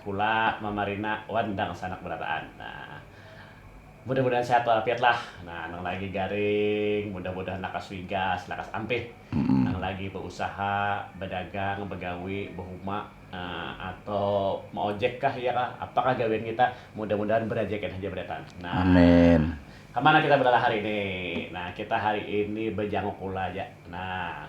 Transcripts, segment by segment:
Kula mamarina wan dangsanak barataan nah mudah mudahan sehat walafiat lah nah nang lagi garing mudah mudahan lakas wigas lakas ampih nang lagi bausaha badagang bagawi bahuma ato maojek kah iya kah apa kah gawian kita mudah mudahan barajakian haja barataan nah kamana kita balalah hari ini nah kita hari ini bajanguk kula ja nah.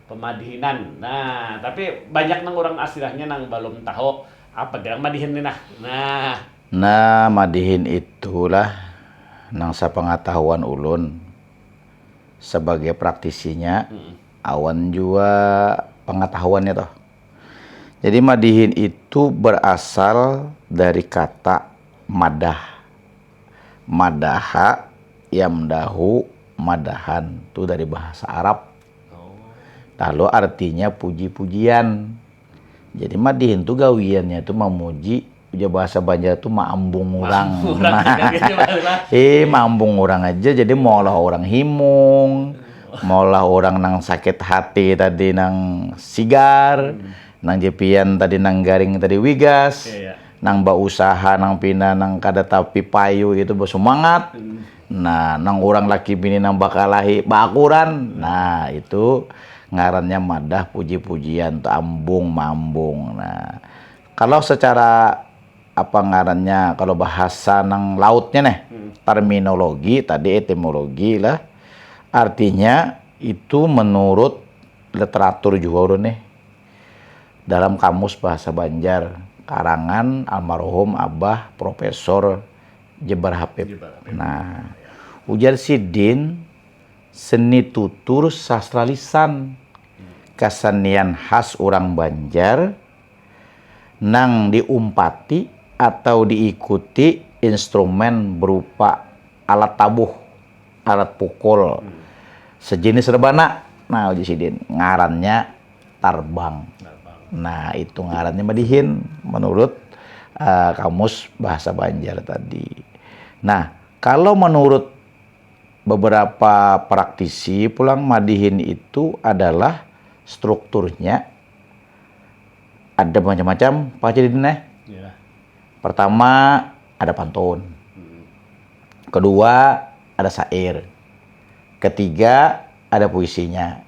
Pemadihinan, nah tapi banyak nang urang astirahnya nang balum tahu, apa gerang madihin ni nah, nah. Nah madihin itu lah nang sapangatahuan ulun sabagai praktisinya awan jua pangatahuannya tuh. Jadi madihin itu berasal dari kata madah, madaha, yamdahu, madahan, tu dari bahasa arab. Lalu artinya puji-pujian. Jadi mah dihintu gawiannya itu memuji ujar bahasa Banjar itu maambung orang. eh maambung orang aja jadi maulah orang himung, maulah orang nang sakit hati tadi nang sigar, nang jepian tadi nang garing tadi wigas, nang bausaha nang pina nang kada tapi payu itu bersemangat. Nah, nang urang laki bini nang bakalahi baakuran. Nah, itu ngarannya madah puji-pujian tu ambung maambung. Nah, kalau secara apa ngarannya kalau bahasa nang lautnya neh terminologi tadi etimologi lah artinya itu menurut literatur juga ulun nih dalam kamus bahasa Banjar karangan almarhum abah profesor Jebar Hapib. Nah, ujar sidin, seni tutur sastra lisan, kasenian khas urang Banjar nang diumpati atau diikuti instrumen berupa alat tabuh, alat pukul, sejenis rebana. Nah, ujar sidin, ngarannya. tarbang nah itu ngarannya madihin menurut kamus bahasa banjar tadi nah kalo menurut beberapa praktisi pulang madihin itu adalah strukturnya ada macam-macam apa aja didin neh pertama ada pantun kedua ada sair ketiga ada puisinya.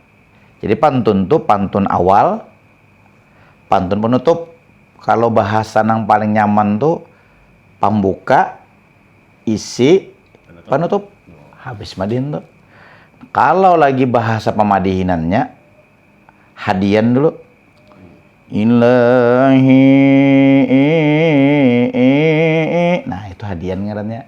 Jadi pantun tu pantun awal, pantun penutup. Kalau bahasa nang paling nyaman tu pambuka, isi, penutup. Habis madin tu. Kalau lagi bahasa pamadihinannya, hadian dulu. Ilahi. Nah, itu hadian ngarannya.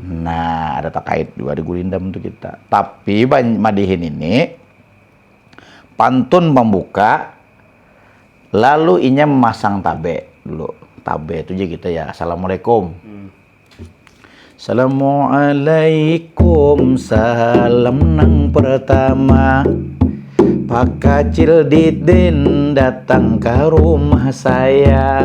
Nah, ada takait juga di Gulindam tu kita. Tapi madihin ini pantun pambuka lalu inya memasang tabe dulu. Tabe tu ja kita ya Assalamualaikum. Hmm. Assalamualaikum salam nang pertama Pak kacil didin datang ke rumah saya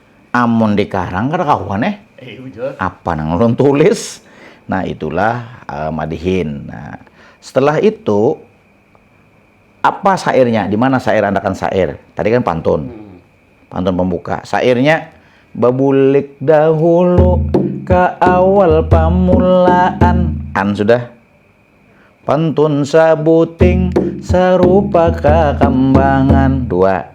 Amun di karang kada kawan eh. Iya, Apa nang ulun tulis? Nah itulah uh, madihin. Nah, setelah itu apa sairnya? Di mana sair andakan sair? Tadi kan pantun. Hmm. Pantun pembuka. Sairnya babulik dahulu ke awal pamulaan. An sudah Pantun sabuting sarupa kakambangan dua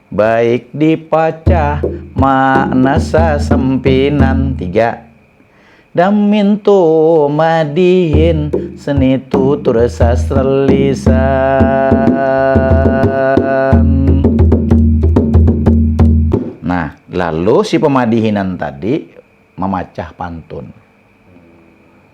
baik dipacah makna sasampinan tiga damin tuma dihin seni tutur sastra lisan. Nah, lalu si pamadihinan tadi mamacah pantun.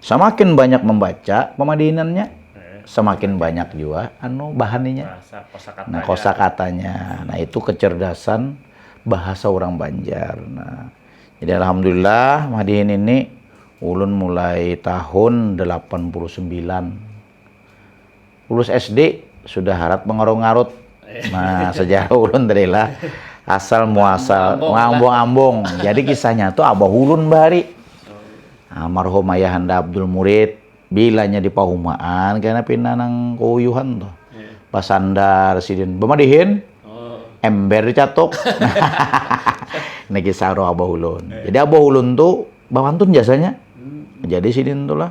Samakin banyak membaca pemadihinannya, hmm. semakin banyak juga anu bahaninya. Nah, kosa katanya. Nah, itu kecerdasan bahasa orang Banjar. Nah, jadi alhamdulillah madihin ini ulun mulai tahun 89 lulus SD sudah harat mengarut-ngarut. Nah, sejarah ulun tadi lah asal muasal ngambung-ambung. Jadi kisahnya tuh abah ulun bahari. Almarhum ayah anda Abdul Murid bilanya di pahumaan kena pina nang keuyuhan tuh. Iya. Basandar sidin bemadihin oh. ember dicatuk. Ini kisah roh abah ulun. Iya. Jadi abah ulun tuh bawantun jasanya. Hmm. Jadi sidin tuh lah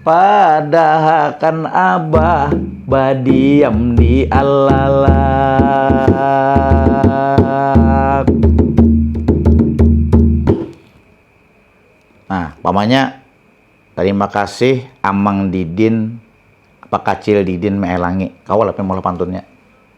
Padahakan abah badiam di alalak. Nah, pamanya terima kasih Amang Didin, Pakacil Didin Maelangi. Kawa lah pin maulah pantunnya.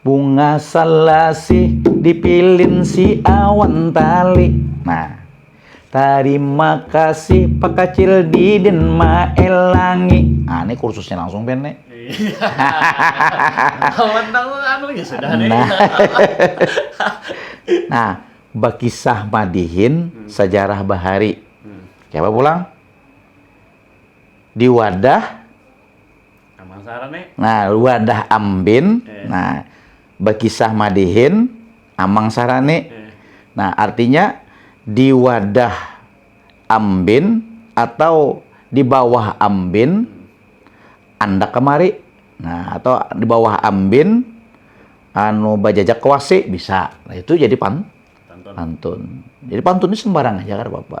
Bunga salasih dipilin si awan tali Nah Tarima kasih Pak Kacil Didin maelangi Nah ini kursusnya langsung Ben nih Nah Nah Bakisah madihin sajarah bahari Kaya apa pulang Di wadah nah wadah ambin nah bakisah madihin amang sarani nah artinya di wadah ambin atau di bawah ambin andak kamari nah atau di bawah ambin anu bajajak ke wasi bisa nah itu jadi pan pantun jadi pantun ni sembarang haja kada papa.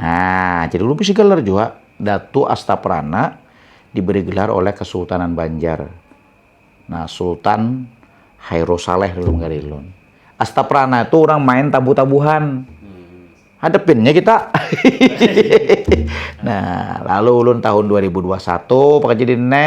Nah, jadi ulun bisi gelar jua Datu Astaprana diberi gelar oleh Kesultanan Banjar. Nah, Sultan Hairo Saleh dulu menggali lun. Astaprana itu orang main tabu-tabuhan. Hmm. Hadepinnya kita. nah, lalu ulun tahun 2021 pakai jadi ne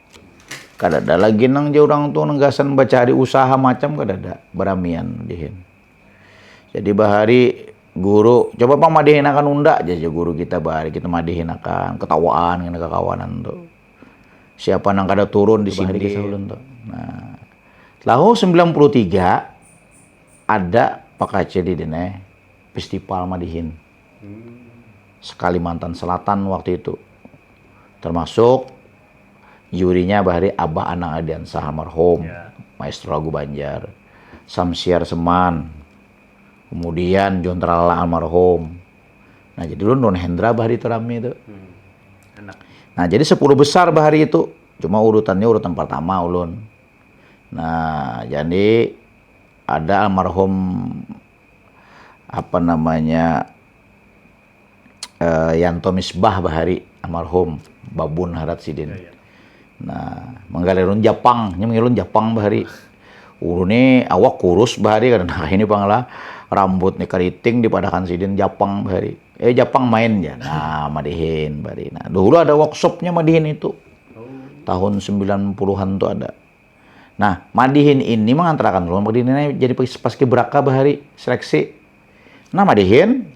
Kadada lagi nang jar urang tu nang gasan bacari usaha macam kadada, baramian dihin. Jadi bahari guru, coba pang madihinakan unda jar jar guru kita bahari kita madihinakan, ketawaan kena kakawanan tu. Siapa nang kada turun disini kisah ulun tu. Nah, tahun 93 ada pakacil di dini festival madihin. Sekalimantan Selatan waktu itu. Termasuk jurinya bahari Abah Anang Ardiansah almarhum, yeah. maestro lagu Banjar. Samsiar Seman. Kemudian John Tralala almarhum. Nah, jadi dulu Nun Hendra bahari itu rame itu. Hmm. Enak. Nah, jadi sepuluh besar bahari itu. Cuma urutannya urutan pertama ulun. Nah, jadi ada almarhum apa namanya uh, Yanto Misbah bahari almarhum babun harat sidin. Ya, ya. Nah, manggalerun Japang, nya mangilun Japang bahari. Ulu ni awak kurus bahari kada nah ini panglah rambut ni keriting dipadakan sidin Japang bahari. Eh Japang main ya. Nah, madihin bahari. Nah, dulu ada workshopnya madihin itu. Oh. Tahun 90-an tuh ada. Nah, madihin ini mangantarakan ulun berdini ini jadi paskibraka bahari seleksi. Nah, madihin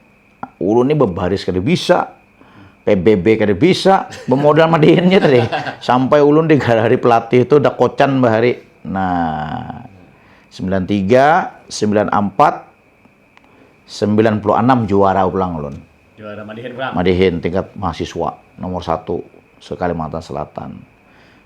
ulun ini berbaris kada bisa, PBB kada bisa, bermodal madihinnya tadi. Sampai ulun digalari pelatih itu dah kocan bahari. Nah, 93, 94, 96 juara pulang ulun. Juara madihin pulang? Madihin, tingkat mahasiswa, nomor satu se-Kalimantan Selatan.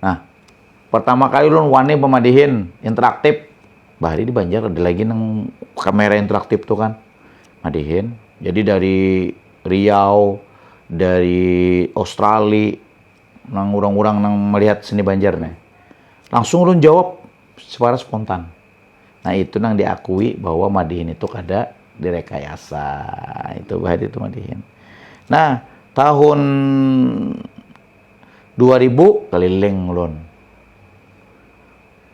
Nah, pertama kali ulun wani pemadihin interaktif. Bahari di Banjar ada lagi nang kamera interaktif tuh kan. Madihin. Jadi dari Riau, dari Australia, nang orang-orang nang melihat seni Banjar nih. Langsung ulun jawab secara spontan. Nah itu nang diakui bahwa madihin itu kada direkayasa. Itu bahari itu madihin. Nah, tahun dua ribu keliling ulun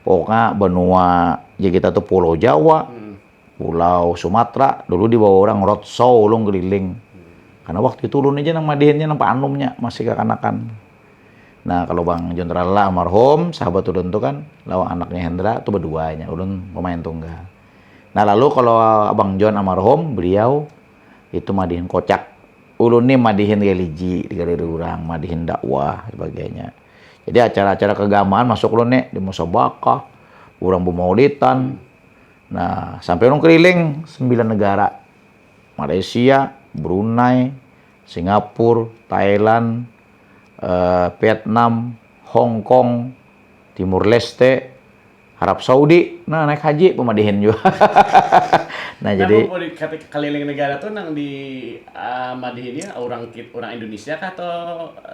pokoknya benua ya kita tuh pulau Jawa hmm. pulau Sumatera dulu dibawa orang roadshow ulun keliling hmm. karena waktu itu ulun aja nang madihinnya nang anumnya masih kekanakan nah kalau Bang Jenderal lah almarhum sahabat ulun tuh kan lawan anaknya Hendra tuh berduanya ulun pemain tunggal nah lalu kalau Abang John almarhum beliau itu madihin kocak ulun nih madihin religi digaliri orang madihin dakwah sebagainya jadi acara-acara keagamaan masuk ulun nih di musabakah orang bemaulitan nah sampai ulun keliling sembilan negara Malaysia Brunei Singapura Thailand eh, Vietnam Hong Kong Timur Leste Arab Saudi, nah naik haji pemadihin juga. nah, nah jadi keliling negara tuh nang di uh, madihinnya orang orang Indonesia kah atau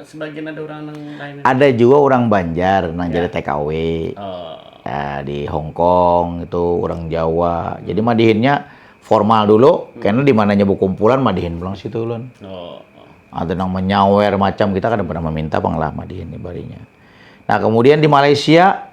sebagian ada orang nang lain? Ada juga orang Banjar nang ya. jadi TKW. Oh. Uh, di Hong Kong itu orang Jawa. Jadi madihinnya formal dulu, hmm. karena di mananya kumpulan madihin pulang situ ulun. Oh. Ada nang menyawer macam kita kan pernah meminta panglah madihin ibarinya. Nah, kemudian di Malaysia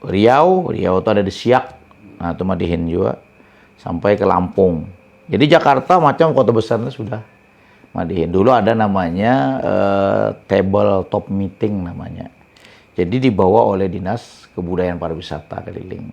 Riau, Riau tu ada di Siak, nah tu madihin jua sampai ke Lampung. Jadi Jakarta macam kota besar itu sudah madihin. Dulu ada namanya eh, table top meeting namanya. Jadi dibawa oleh dinas kebudayaan pariwisata keliling.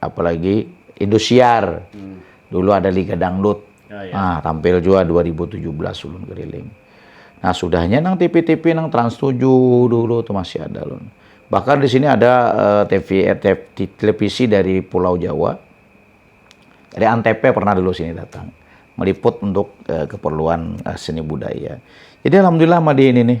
apalagi indosiar dulu ada liga dangdut nah tampil juga 2017 ulun keliling nah sudahnya nang TV-TV nang Trans 7 dulu tuh masih ada ulun bahkan di sini ada uh, eh, TV, eh, TV televisi dari Pulau Jawa dari Antep pernah dulu sini datang meliput untuk uh, keperluan uh, seni budaya jadi alhamdulillah mah di ini nih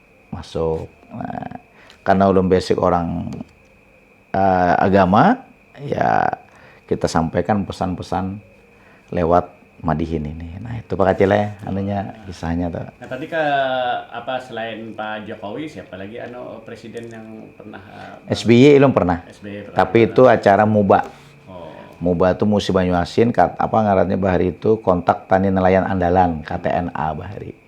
masuk nah karena ulun basic orang uh, agama ya kita sampaikan pesan-pesan lewat madihin ini. Nah itu Pak Kacil ya, anunya kisahnya tuh. Nah tadi ke apa selain Pak Jokowi siapa lagi anu presiden yang pernah? Uh, eh, SBY belum pernah. SBY pernah. Tapi pernah. itu acara MUBA. Oh. MUBA itu musim Banyuasin, kat, apa ngarannya bahari itu kontak tani nelayan andalan KTNA bahari.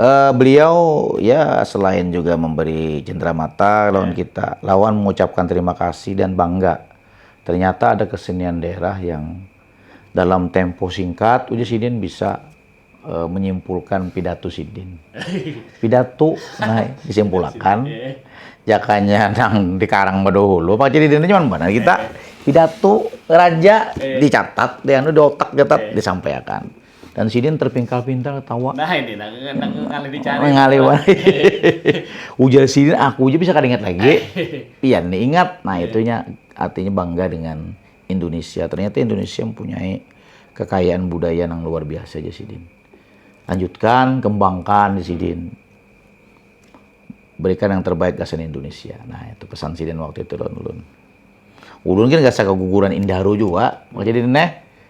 Uh, beliau ya selain juga memberi jendera mata lawan ya. kita, lawan mengucapkan terima kasih dan bangga. Ternyata ada kesenian daerah yang dalam tempo singkat uji sidin bisa uh, menyimpulkan pidato sidin. Pidato nah disimpulkan ya. jakanya nang dikarang badahulu pak jadi cuma mana kita ya. pidato raja ya. dicatat, dianu di otak catat disampaikan. Dan sidin terpingkal-pintal tawa. Nah ini, nah, nah, ngalih dicari. Ngalih Ujar sidin, aku aja bisa ingat lagi. Iya, ini ingat. Nah, iya. itunya artinya bangga dengan Indonesia. Ternyata Indonesia mempunyai kekayaan budaya yang luar biasa aja sidin. Lanjutkan, kembangkan di sidin. Berikan yang terbaik gasan Indonesia. Nah, itu pesan sidin waktu itu, Don Ulun. Ulun kan gak keguguran Indaro juga. Jadi, Neh,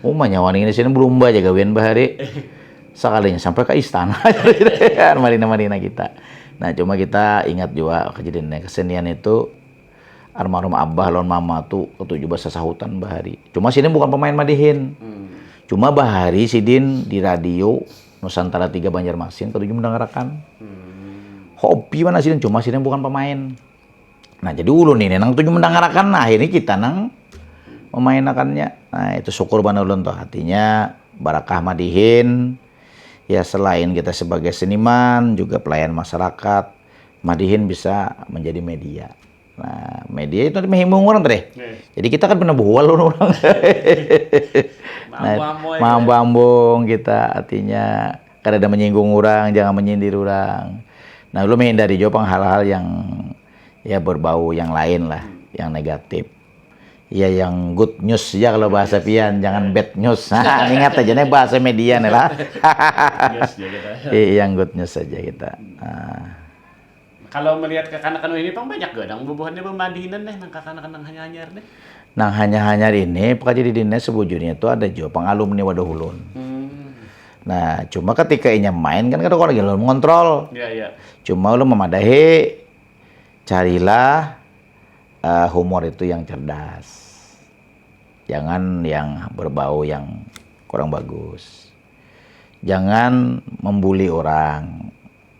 Uma nyawa nih di sini belum baca gawian bahari. Sekalinya sampai ke istana kan marina-marina kita. Nah cuma kita ingat juga kejadiannya kesenian itu almarhum abah lawan mama tuh ketujuh bahasa sahutan bahari. Cuma sini bukan pemain madihin. Hmm. Cuma bahari sidin di radio Nusantara 3 Banjarmasin ketujuh mendengarakan. Hmm. Hobi mana sidin cuma sidin bukan pemain. Nah, jadi ulun ini nang tuju mendangarakan, nah ini kita nang memainakannya. Nah, itu syukur banar ulun tuh hatinya barakah madihin. Ya selain kita sebagai seniman, juga pelayan masyarakat, madihin bisa menjadi media. Nah, media itu mehimung orang tadi. Iya. Jadi kita kan pernah buhal orang. Nah, mambung kita artinya Kadada menyinggung urang, jangan menyindir urang. Nah ulun mehindari jua pang hal-hal yang ya berbau yang lain lah, yang negatif. Ya yang good news ja kalau bahasa pian, jangan bad news. Ingat aja nih bahasa media nih lah. yang good news saja kita. Kalau melihat kakanakan wahini pang banyak jua nang bubuhannya bamadinan nih nang kakanakan nang hanyar-hanyar nih. Nang hanyar-hanyar ini pekerja di dinas sebujurnya itu ada jua pang alumni wadah ulun. Nah, cuma ketika inya main kan kada kawa lagi ulun mengontrol. Ya, ya. Cuma ulun memadahi carilah uh, humor itu yang cerdas. Jangan yang berbau yang kurang bagus. Jangan membuli orang.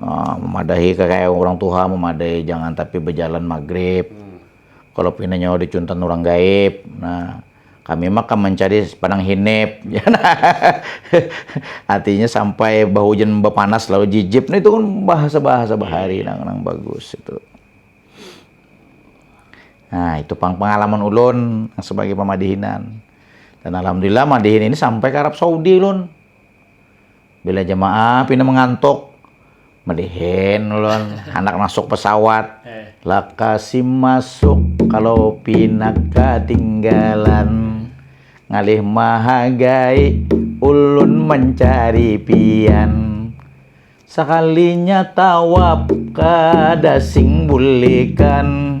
uh, memadahi kayak orang tuha memadahi jangan tapi berjalan maghrib hmm. kalau pina nyawa dicuntan orang gaib nah kami mah kan mencari padang hinip ya nah. artinya sampai bahujan berpanas lalu jijip nah itu kan bahasa bahasa bahari nang nang bagus itu Nah, itu pang pengalaman ulun sebagai pemadihinan. Dan alhamdulillah madihin ini sampai ke Arab Saudi ulun. Bila jamaah pina mangantuk, malihin ulun handak masuk pesawat. Eh. Lakasim masuk kalau pina katinggalan. Ngalih mahagai ulun mencari pian. Sakalinya tawap kada sing bulikan.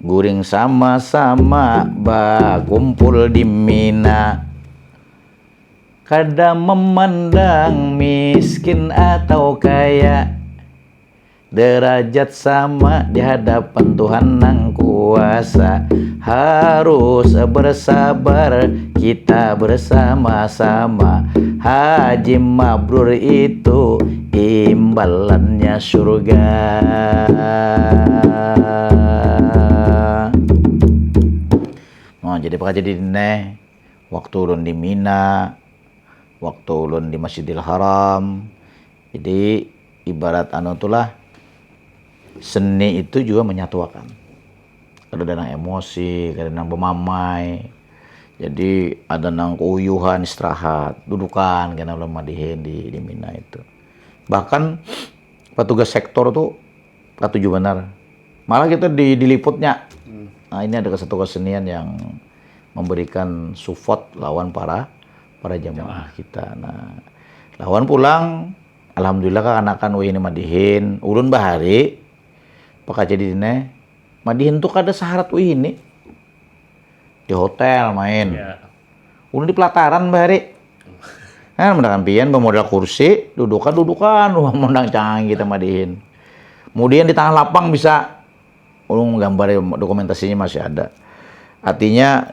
Guring sama-sama bakumpul di Mina Kada memandang miskin atau kaya Derajat sama di hadapan Tuhan nang kuasa Harus bersabar kita bersama-sama Haji Mabrur itu imbalannya surga nah jadi apa jadi neh waktu ulun di Mina waktu ulun di Masjidil Haram jadi ibarat anu itulah seni itu juga menyatuakan kadada nang emosi, kadada nang bamamai, jadi ada nang kauyuhan istirahat, dudukan kena ulun malihin di mina itu. Bahkan patugas sektor tu katuju banar, malah kita di diliputnya, nah ini ada satu kesenian yang memberikan sufot lawan para para jamaah kita, nah lawan pulang alhamdulillah kakanakan wahini malihin, ulun bahari. Pakajadi ne, madihin tu kada saharat wahini. Di hotel main. Ya. Ulun di pelataran bahari. Nah, mendakan pian bamodal kursi, dudukan dudukan, wah mondang canggih kita madihin. Kemudian di tengah lapang bisa ulun gambar dokumentasinya masih ada. Artinya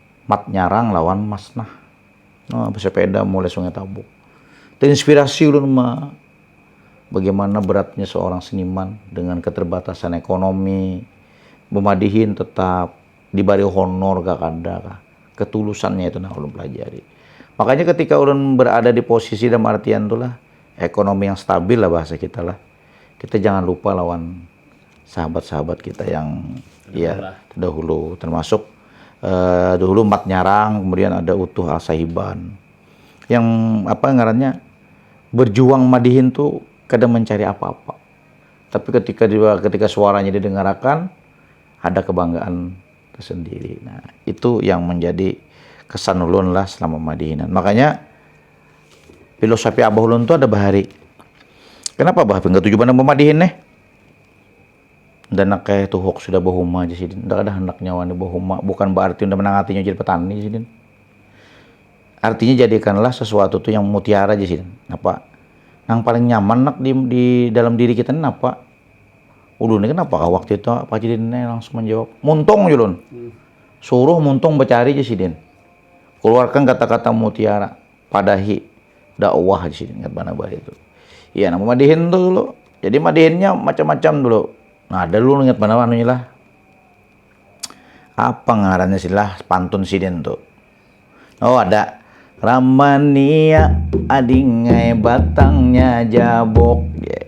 Mat Nyarang lawan Mas Nah. Nah, bersepeda mulai Sungai Tabuk. Terinspirasi ulun ma bagaimana beratnya seorang seniman dengan keterbatasan ekonomi, bemadihin tetap dibari honor kah kada kah. Ketulusannya itu nah ulun pelajari. Makanya ketika ulun berada di posisi dalam artian tulah ekonomi yang stabil lah bahasa kita lah. kita jangan lupa lawan sahabat-sahabat kita yang ya dahulu termasuk uh, dahulu Mat Nyarang, kemudian ada Utuh Al Sahiban. Yang apa ngarannya berjuang madihin tuh kada mencari apa-apa. Tapi ketika dia, ketika suaranya didengarakan ada kebanggaan tersendiri. Nah, itu yang menjadi kesan ulun lah selama madihinan. Makanya Filosofi abah ulun tu ada bahari. Kenapa bah pinggah tujuh pandang pemadihin nih? Dan nak kayak tuh hoax sudah bahuma aja sidin. Tidak ada hendak nyawa nih bahuma. Bukan berarti udah menang hatinya jadi petani sidin. Artinya jadikanlah sesuatu tuh yang mutiara aja sidin. Apa? Yang paling nyaman nak di, di dalam diri kita ini apa? Ulun ini kenapa kah waktu itu Pak Jidin langsung menjawab, muntung Julun. Hmm. Suruh muntung bercari aja sidin. Keluarkan kata-kata mutiara, padahi dakwah di sini ingat mana bahaya itu. Iya, nama madihin tuh dulu. Jadi madihinnya macam-macam dulu. Nah, ada dulu ingat mana anunya lah. Apa ngarannya sih lah pantun sidin tuh. Oh, ada. Ramania adingai batangnya jabok. Yeah.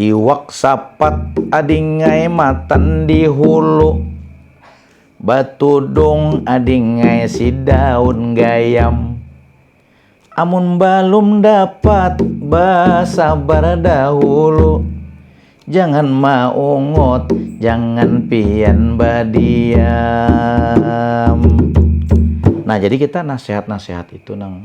Iwak sapat adingai matan di hulu Batudung adingai si daun gayam Amun balum dapat basabar dahulu Jangan maungut jangan pian badiam Nah jadi kita nasihat-nasihat itu nang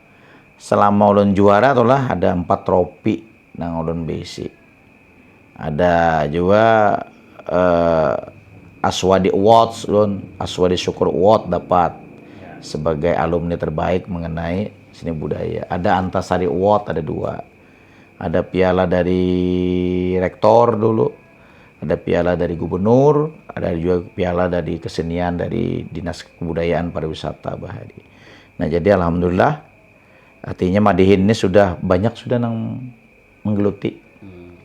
selama ulun juara tu lah ada empat tropi nang ulun bisi ada jua uh, Aswadi Awards ulun Aswadi Syukur Award dapat sebagai alumni terbaik mengenai seni budaya ada Antasari Award ada dua ada piala dari rektor dulu ada piala dari gubernur ada juga piala dari kesenian dari dinas kebudayaan pariwisata bahari Nah jadi alhamdulillah artinya Madihin ini sudah banyak sudah nang menggeluti. Hmm.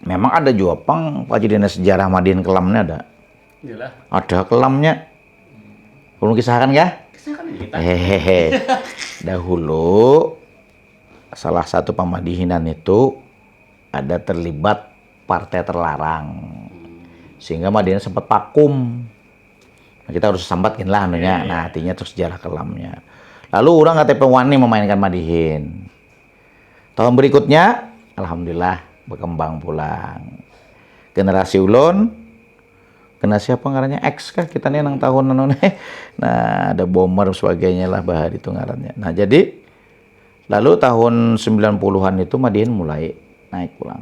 Memang ada juga pang kejadian sejarah Madihin kelamnya ada. Yalah. Ada kelamnya. Hmm. Belum kisahkan ya? Kisahkan kita. Hehehe. Dahulu salah satu pamadihinan itu ada terlibat partai terlarang. Hmm. Sehingga Madihin sempat vakum. Nah, kita harus sambat gin lah anunya, yeah, iya. nah artinya tuh sejarah kelamnya. Lalu orang KTP Wani memainkan Madihin. Tahun berikutnya, alhamdulillah berkembang pulang. Generasi ulon, kena siapa ngarannya X kah kita nih nang tahun nang nih. Nah, ada bomber sebagainya lah bahari itu ngarannya. Nah, jadi lalu tahun 90-an itu Madihin mulai naik pulang.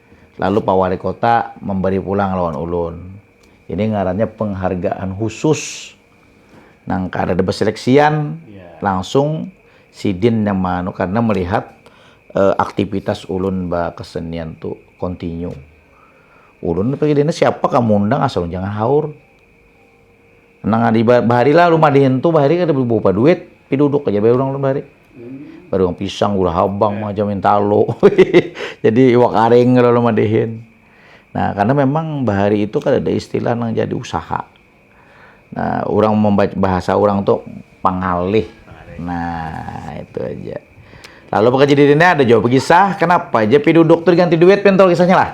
lalu Pak Wali Kota memberi pulang lawan ulun. Ini ngarannya penghargaan khusus nang kada ada beseleksian yeah. langsung sidin yang manu karena melihat uh, aktivitas ulun kesenian tu continue. Ulun pikir ini siapa kamu undang asal jangan haur. Nang ada ibarat bahari lah rumah dihentu bahari kada bawa duit, tapi duduk aja bae urang bahari. Hmm. Baru yang pisang, gula habang, yeah. macam yang talo. jadi iwak aring kalau rumah dihin. Nah, karena memang bahari itu kada ada istilah nang jadi usaha. Nah, orang membaca bahasa orang tuh pangalih. Nah, itu aja. Lalu pekerja dirinya ada jawab kisah, kenapa aja pi duduk tuh diganti duit pentol kisahnya lah.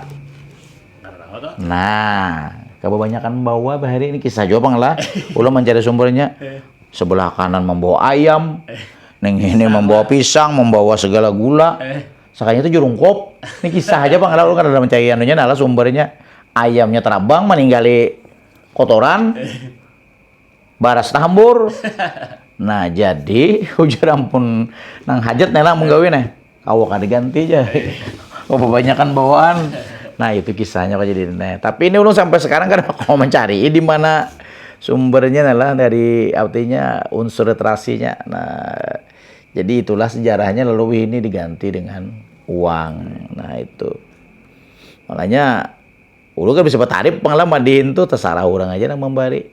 Nah, kebanyakan bawa bahari ini kisah juga pang lah. Ulah mencari sumbernya. Sebelah kanan membawa ayam, neng ini membawa pisang, membawa segala gula. Sakanya itu jurung kop. Ini kisah aja pang lah, ulah kada mencari anunya nah lah sumbernya. Ayamnya terabang meninggali kotoran, baras tahambur. Nah jadi ujar ampun nang hajat nih lah menggawi nih. Kawa kada ganti ja, babanyakan bawaan. Nah itu kisahnya kok jadi nah. Tapi ini ulun sampai sekarang kada kawa mencari di mana sumbernya lah dari artinya unsur literasinya. Nah jadi itulah sejarahnya lalu ini diganti dengan uang. Nah itu makanya ulun kan bisa betarif pengalaman di itu terserah orang aja nang membari.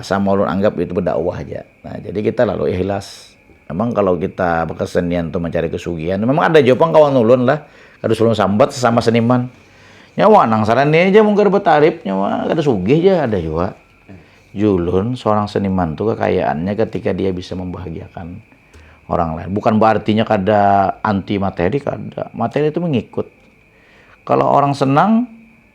sama ulun anggap itu berdakwah ja, nah jadi kita lalu ihlas, memang kalau kita berkesenian tu mencari kesugihan, memang ada jua pang kawan ulun lah kada usah ulun sambat sesama seniman, nya wah nang salah ni ja mun kada betarip nya wah kada sugih ja ada jua, julun seorang seniman tu kekayaannya ketika dia bisa membahagiakan orang lain, bukan berarti nya kada anti materi kada, materi tu mengikut, kalau orang senang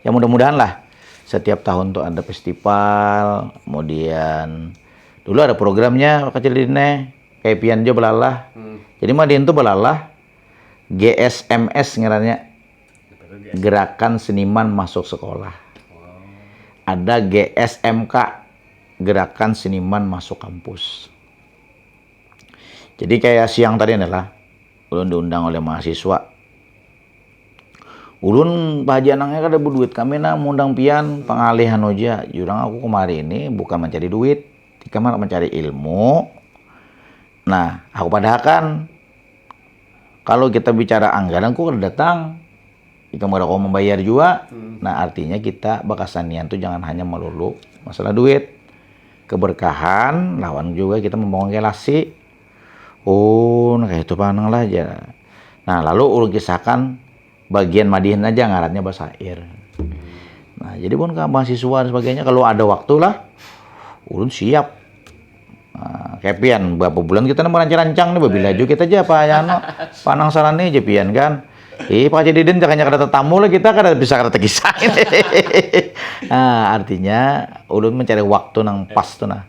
ya mudah-mudahan lah setiap tahun tuh ada festival kemudian dulu ada programnya kecil dine kayak pian jo belalah hmm. jadi mah tuh belalah GSMS ngerannya gerakan seniman masuk sekolah ada GSMK gerakan seniman masuk kampus jadi kayak siang tadi adalah Ulun diundang oleh mahasiswa. Ulun Pak Haji Anangnya kada berduit kami nah mengundang pian pengalih anu aja. Jurang aku kemari ini bukan mencari duit, tika mana mencari ilmu. Nah, aku padahakan kalau kita bicara anggaran kok kada datang. Ika kada kau membayar juga. Hmm. Nah, artinya kita bakasanian tuh jangan hanya melulu masalah duit. Keberkahan lawan juga kita membangun relasi Oh, nah kaya itu pang nang lah jar. Nah, lalu ulun kisahkan bagian madihin aja ngarannya basair. Nah, jadi pun ke mahasiswa dan sebagainya kalau ada waktu lah ulun siap. Nah, kayak pian berapa bulan kita nemu rancang-rancang nih babila juga kita aja apa ya no panang saran nih jepian kan. Eh, Pak Jediden jangan ada tetamu lah kita kada bisa kada terkisah. nah, artinya ulun mencari waktu nang pas tuh nah.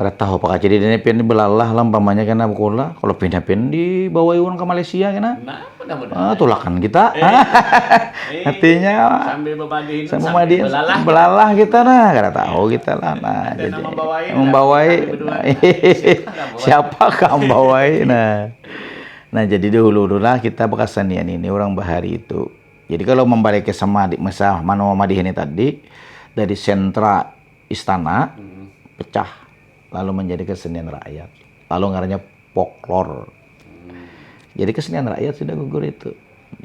Kada tahu apa kajadian nya pian belalah lah umpamanya kena bekulah kalau pindah pian dibawai orang ke Malaysia kena nah, ah, tulakan kita eh, eh, artinya sambil bebadin sambil bebadin belalah, belalah kita nah kada tahu iya. kita lah nah Ada jadi membawai, membawai nah, siapa kah membawai nah nah jadi dulu dulu lah kita berkesenian ini orang bahari itu jadi kalau membalik ke sama adik masa manoa madih ini tadi dari sentra istana pecah lalu menjadi kesenian rakyat lalu ngarannya poklor jadi kesenian rakyat sudah gugur itu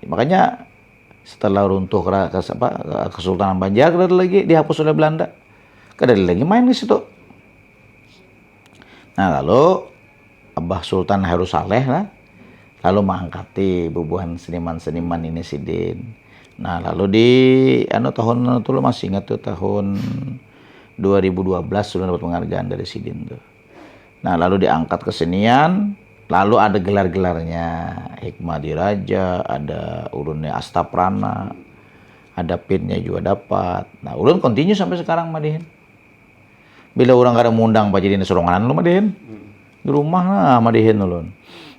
makanya setelah runtuh Kesultanan Banjar kada ada lagi dihapus oleh Belanda kada ada lagi main di situ nah lalu Abah Sultan Heru Saleh lah lalu mangangkati bubuhan seniman-seniman ini sidin nah lalu di anu tahun anu tuh lu masih ingat tuh tahun 2012 lu dapat penghargaan dari sidin tuh nah lalu diangkat kesenian lalu ada gelar-gelarnya Hikmah Diraja ada ulunnya Astaprana ada pinnya juga dapat nah ulun continue sampai sekarang madihin Bila urang kada mundang bajadian suronganan ulun madihin. Di rumah nah madihin ulun.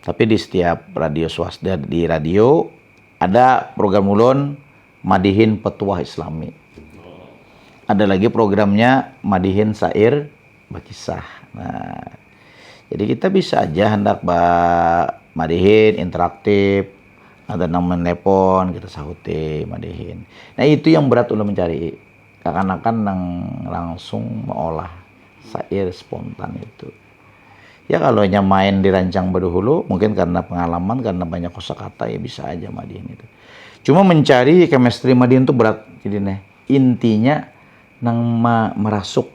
Tapi di setiap radio swasta di radio ada program ulun madihin petuah islami. Ada lagi programnya madihin sair bekisah. Nah, jadi kita bisa aja handak ba madihin interaktif ada nang menelpon kita sahuti madihin. Nah itu yang berat ulun mencari. Kakanakan nang langsung maolah sair spontan itu. Ya kalo inya main di rancang baduhulu, mungkin karna pangalaman, karna banyak kosa kata, ya bisa aja madihin itu. Cuma mencari chemistry madihin tu berat jadi ne. Intinya nang marasuk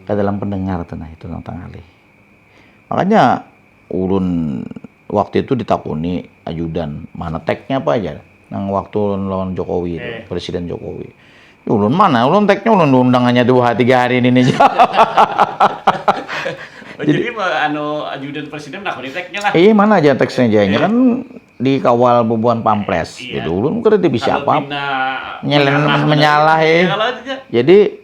ka dalam pendengar tu nah itu nang tangalih. Makanya ulun. Waktu itu ditakuni ajudan, mana teknya apa aja nang waktu lawan Jokowi itu, eh. Presiden Jokowi. Ya ulun mana, ulun teknya ulun diundang hanya dua tiga hari ini nih. Oh, jadi, jadi anu ajudan presiden nak teknya lah. Iya mana aja teksnya aja, iya. kan dikawal bubuhan pampres. Iya. Jadi ulun kada bisa apa. Nyelen menyalah ya. Jadi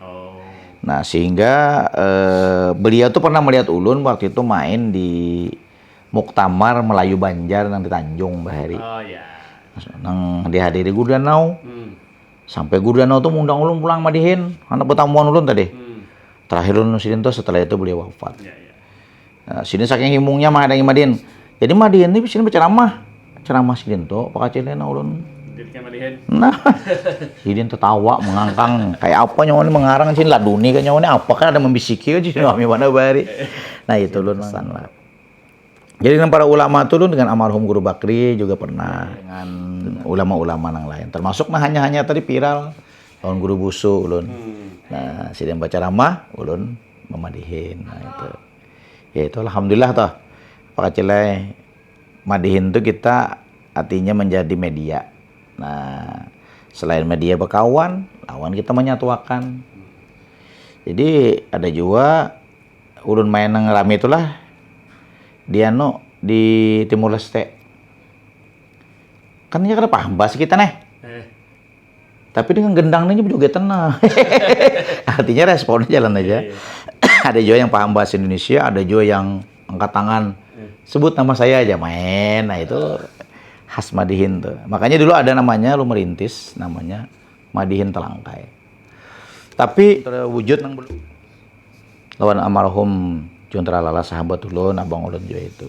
Oh. Nah, sehingga eh, beliau tuh pernah melihat ulun waktu itu main di Muktamar Melayu Banjar nang di Tanjung Bahari. Oh ya. Nang dihadiri Guru Danau. Hmm. Sampai Guru Danau tuh mengundang ulun pulang madihin, anak pertamuan ulun tadi. Hmm. Terakhir ulun sidin tuh setelah itu beliau wafat. Ya, ya. Nah, sini saking himungnya menghadangi Madin. Jadi Madin ini sini berceramah. Ceramah sidin tuh, Pak Kacil ini ulun. Nah, sidin tertawa mengangkang kayak apa nyawa ini mengarang sini laduni kan nyawa ini apa kan ada membisiki aja sini kami mana bari. Nah itu ulun pesan lah. Jadi dengan para ulama tuh ulun dengan almarhum Guru Bakri juga pernah dengan ulama-ulama yang lain. Termasuk nah hanya-hanya tadi viral tahun Guru Busu ulun. Hmm. Nah, sidin baca ramah ulun mamadihin nah itu ya itu alhamdulillah toh Pak Kacilai madihin tuh kita artinya menjadi media nah selain media bekawan lawan kita menyatuakan jadi ada juga ulun main nang rami itulah di anu di Timur Leste kan nya kada paham bahasa kita neh Tapi dengan gendang ini juga tenang. Artinya responnya jalan aja. Iya, iya. ada juga yang paham bahasa Indonesia, ada juga yang angkat tangan. Hmm. Sebut nama saya aja main. Nah itu khas Madihin tuh. Makanya dulu ada namanya lu merintis namanya Madihin Telangkai. Tapi terwujud nang belum. Lawan amarhum Juntra Lala sahabat ulun, abang ulun juga itu.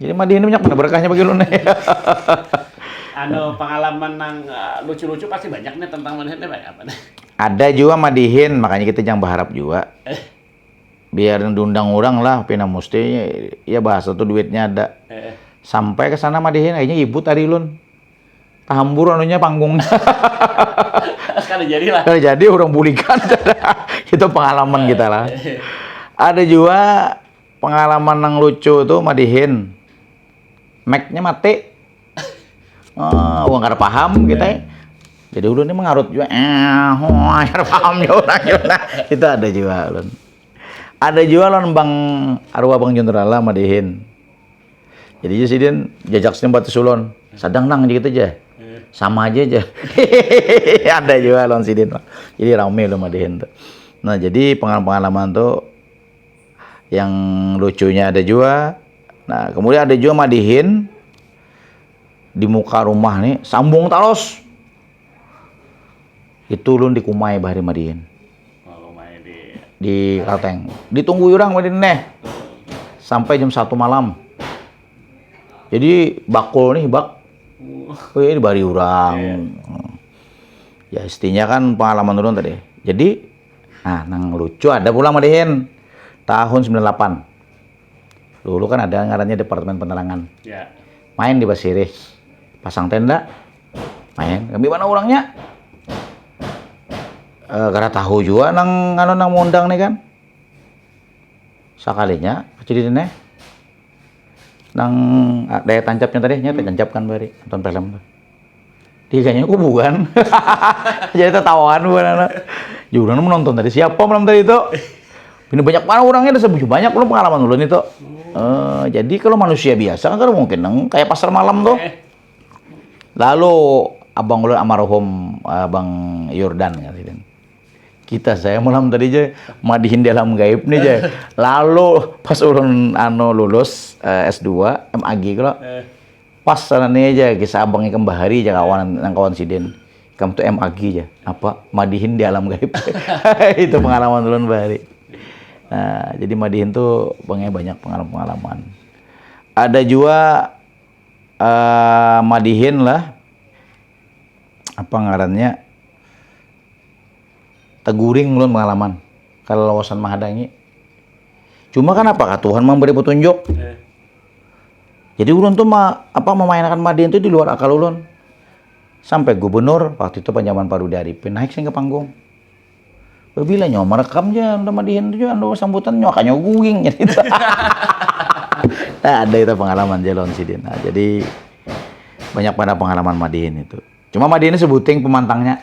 Jadi mah ini banyak mana berkahnya bagi ulun. anu pengalaman nang eh, lucu-lucu pasti banyak nih tentang madihin nih apa nih? Ada juga madihin, makanya kita jangan berharap juga. Eh. Biar diundang orang lah, pina mesti ya bahasa tuh duitnya ada. Eh. Sampai ke sana madihin, akhirnya ibu tadi ulun. Tahambur anunya panggung. Kada jadi lah. Kada jadi orang bulikan. Itu pengalaman kita lah. Eh. Ada juga Pengalaman nang lucu tu madihin meknya mati uh, wong kada paham kita ya. jadi ulun ini mengarut juga eh oh, kada paham ya orang ya. nah, itu ada juga ulun ada juga ulun bang arwah bang jenderala madihin jadi ya sidin jajak sidin batu sulon sadang nang gitu aja sama aja aja ada juga ulun sidin jadi rame ulun madihin tuh nah jadi pengalaman pengalaman tuh yang lucunya ada juga nah kemudian ada juga madihin di muka rumah nih sambung talos itu lun dikumai bahari madihin di Kalteng ditunggu orang madihin neh sampai jam satu malam jadi bakul nih bak Wih, bari orang. Iya. Ya istinya kan pengalaman orang tadi. Jadi nah nang lucu ada pulang malihin tahun 98 dulu kan ada ngarannya departemen penerangan ya. main di Basirih pasang tenda main kami mana orangnya e, eh, karena tahu juga nang anu nang mengundang nih kan sakalinya jadi nih nang ah, daya tancapnya tadi nya tancap kan bari nonton film tuh dia kayaknya kok bukan jadi tertawaan bukan anak ya udah menonton tadi siapa malam tadi itu ini banyak mana orangnya ada sebuju banyak lu pengalaman ulun itu uh, jadi kalau manusia biasa kan kalau mungkin neng kayak pasar malam tuh eh. lalu abang ulun amarhum abang Yordan kan kita saya malam tadi aja madihin di alam gaib nih aja lalu pas ulun ano lulus uh, eh, S2 MAG kalau eh Pas sana ni aja kisah abang ikam bahari aja kawan nang kawan sidin. Ikam tuh MAG aja. Apa? Madihin di alam gaib. Itu pengalaman ulun bahari. Nah, jadi madihin tuh bangnya banyak pengalaman-pengalaman. Ada jua uh, madihin lah apa ngarannya teguring ulun pengalaman kalau lawasan menghadangi cuma kan apa Tuhan memberi petunjuk eh. Jadi ulun tuh ma, apa memainkan Madin tuh di luar akal ulun. Sampai gubernur waktu itu panjaman Parudi Arifin naik sing ke panggung. Bila nyawa merekam aja udah Madihin tuh anu sambutan nyawa kanya guing jadi itu. nah, ada itu pengalaman jalon sidin. Nah, jadi banyak pada pengalaman Madihin itu. Cuma Madihin sebuting pemantangnya.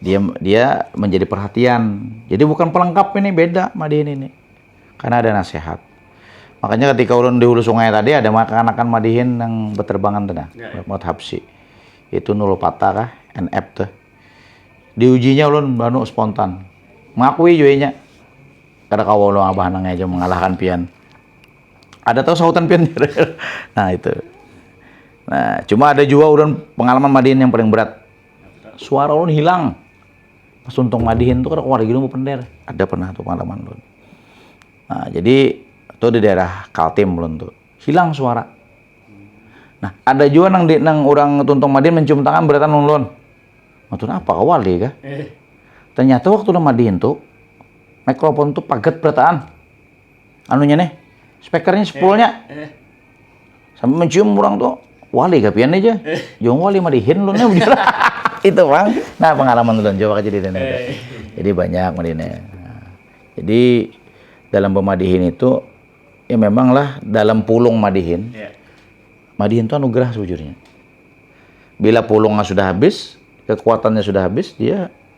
dia dia menjadi perhatian jadi bukan pelengkap ini beda madihin ini karena ada nasihat makanya ketika ulun di hulu sungai tadi ada makan-makan madihin yang berterbangan tuh nah ya, ya. habsi itu nulu patah kah NF tuh diujinya ulun banu spontan mengakui juenya karena kau ulun abah nangnya aja mengalahkan pian ada tahu sahutan pian nah itu nah cuma ada juga ulun pengalaman madihin yang paling berat suara ulun hilang pas tuntung madihin tuh keluar gini mau pender ada pernah tuh pengalaman ulun nah jadi itu di daerah Kaltim ulun tuh hilang suara nah ada juga nang di, nang orang tuntung madihin mencium tangan beratan ulun Matun apa kawal deh kah? Eh. Ternyata waktu udah madihin tuh mikrofon tuh paget berataan anunya nih speakernya sepulnya eh. eh. Sampai mencium orang tuh, wali kapian aja. Jong wali madihin lu Itu bang. Nah pengalaman lu coba aja di Jadi banyak madine. Nah, jadi dalam pemadihin itu ya memanglah dalam pulung madihin. Yeah. Madihin itu anugerah sejujurnya. Bila pulungnya sudah habis, kekuatannya sudah habis, dia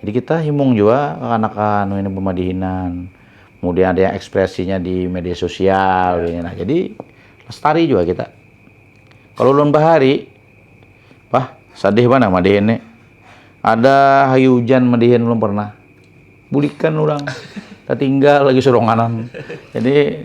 Jadi kita himung juga kekanakan ini pemadihinan. Kemudian ada yang ekspresinya di media sosial. Ya. Nah, jadi lestari juga kita. Kalau ulun bahari, wah sadih mana madihin nih. Ada hayu hujan madihin belum pernah. Bulikan orang. Tertinggal lagi suronganan. Jadi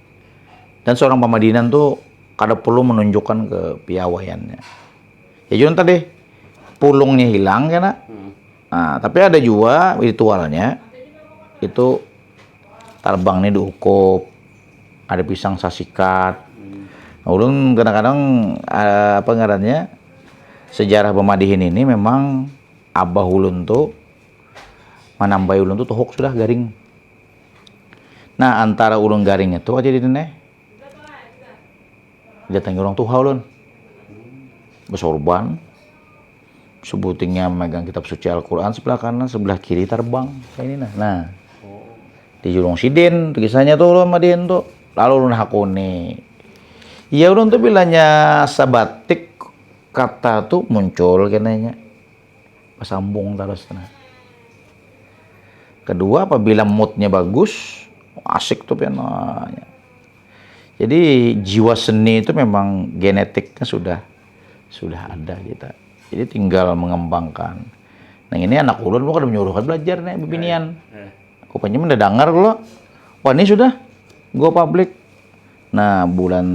Dan seorang pamadinan tuh kada perlu menunjukkan ke piawaiannya. Ya junta deh, pulungnya hilang kena. Hmm. Nah, tapi ada juga ritualnya itu tarbang nih diukup, ada pisang sasikat. Hmm. Nah, ulun kadang-kadang eh, apa ngarannya sejarah pemadihin ini memang abah ulun tuh manambai ulun tuh tohok sudah garing. Nah, antara ulun garing itu aja di dene. Datangi orang tuha ulun. Besorban. Sebutingnya memegang kitab suci Al-Quran sebelah kanan, sebelah kiri terbang. Kayak ini nah. Nah, di julung sidin, kisahnya tuh ulun madin tuh. Lalu ulun hakuni. Ya ulun tuh bilanya sabatik kata tuh muncul kenanya. Basambung tarus tu nah. Kedua apabila moodnya bagus, asik tuh pian. Nah, ya. Jadi jiwa seni itu memang genetiknya sudah sudah ada kita. Jadi tinggal mengembangkan. Nah ini anak ulun lu kada menyuruhkan belajar nih bibinian. Kupanya mendadangar lo. Wah ini sudah go public Nah, bulan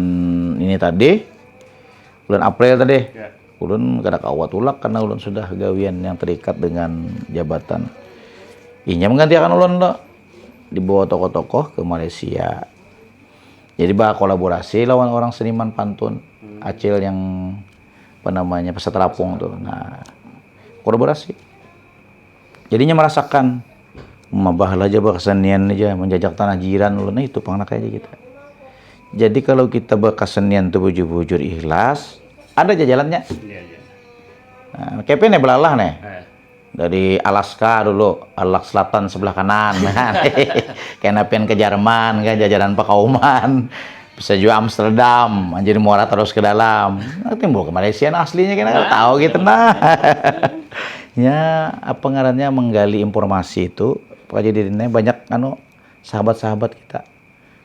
ini tadi, bulan April tadi, ya. ulun kada kawa tulak karena ulun sudah gawian yang terikat dengan jabatan. Inya menggantikan ulun tuh dibawa tokoh-tokoh ke Malaysia. Jadi bah kolaborasi lawan orang seniman pantun hmm. Acil yang apa namanya peserta rapung tuh. Nah, kolaborasi. Jadinya merasakan mabah aja berkesenian aja menjajak tanah jiran ulun itu pang aja kita. Jadi kalau kita berkesenian tuh bujur-bujur ikhlas, ada aja jalannya. Iya, iya. Nah, kepe nih belalah nih. Eh. Dari Alaska dulu, Alak Selatan sebelah kanan. Kan. Kena pengen ke Jerman kan jajaran pakauman. bisa juga Amsterdam jadi muara terus ke dalam nah, timbul ke Malaysia nah, aslinya kita nggak tahu gitu nah ya apa ngarannya menggali informasi itu pokoknya jadi banyak anu sahabat-sahabat kita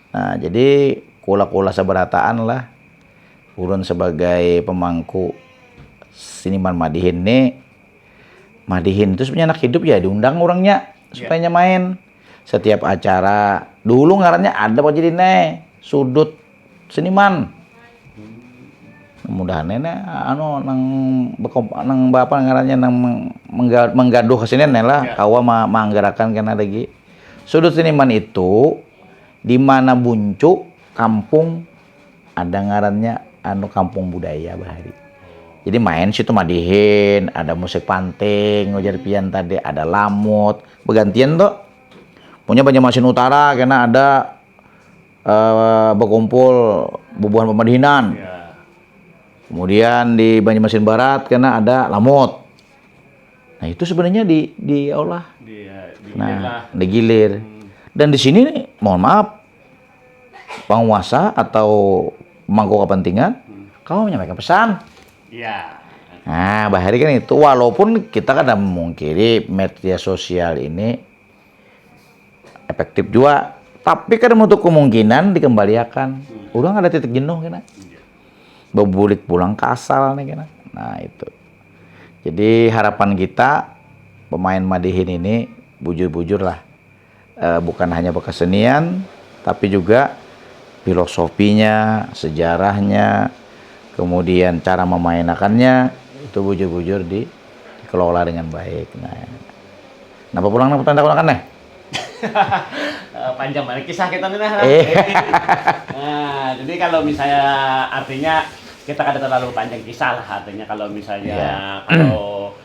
nah jadi kula-kula seberataan lah ulun sebagai pemangku siniman madihin nih madihin itu sebenarnya anak hidup ya diundang orangnya supaya main setiap acara dulu ngarannya ada pak jadi ne sudut seniman mudahan ne anu nang bekom nang apa ngarannya nang menggaduh kesini ne lah ya. kawa ma manggarakan kena lagi sudut seniman itu di mana buncu kampung ada ngarannya anu kampung budaya bahari jadi main situ madihin ada musik panting ujar pian tadi ada lamut bergantian tuh punya Banjarmasin Utara kena ada uh, berkumpul bubuhan pemadihinan ya. kemudian di Banjarmasin Barat kena ada lamut nah itu sebenarnya di di Allah di, ya, di nah digilir hmm. dan di sini mohon maaf penguasa atau mangku kepentingan, kawa menyampaikan pesan. Ya. Nah, bahari kan itu walaupun kita kada memungkiri media sosial ini efektif juga, tapi kada menutup kemungkinan dikembaliakan. Hmm. Orang ada titik jenuh kena. Iya. Bebulik pulang ke asal nih kena. Nah, itu. Jadi harapan kita pemain Madihin ini bujur-bujur lah eh, bukan hanya berkesenian, tapi juga filosofinya, sejarahnya, kemudian cara memainakannya itu bujur-bujur di, dikelola dengan baik. Nah, nah pulang nang pertanda kan nih? Eh, panjang banget kisah kita nih nah. Eh. nah, jadi kalau misalnya artinya kita kada terlalu panjang kisah lah artinya kalau misalnya yeah. kalau